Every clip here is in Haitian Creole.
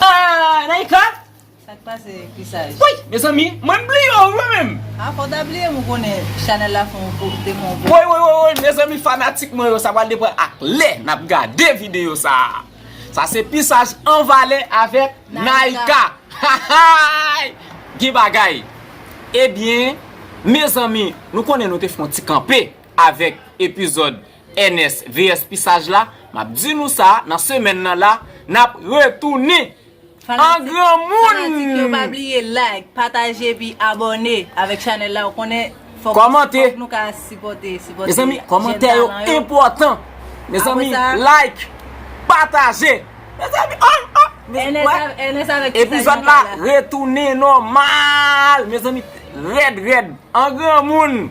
Aah Naïka! Sak pase Chrisaj? Wouyy mezanmi mwen bliye w mwen menm! Ah fòw ta bliye m ou konnen chanèl la fon gwo te fon gwo. Woy woy woy woy mezanmi fanatik mwen yo sa pral depan ak lè nap gade video sa Sa se pisaj an valè avèk Naïka Hahaayy gen bagay Ebyen mezanmi nou konnen nou te fon ti kanpe avèk epizòd Ernest VS pi saj la, map di nou sa nan semèn nan la nap retounin an granmoun. Kòmante Mezanmi kòmantè yo enpòtan Mezanmi like pataje Mezanmi oh oh Mezanmi wè Epizòd la retounin nòmal Mezanmi rèd rèd an granmoun.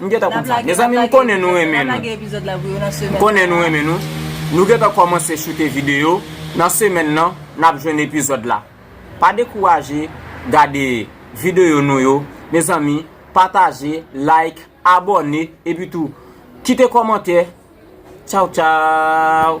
M gentan konn sa. Mezanmi m konnen nou renmen nou. M konnen nou renmen nou. Nou gentan kòmanse choute videyo. Nan semèn nan, n ap jwenn epizòd la. Pa dekouraje gade videyo nou yo. Mezanmi, pataje, like, abòne, epitou kite kòmantè. Tchaw tchaw!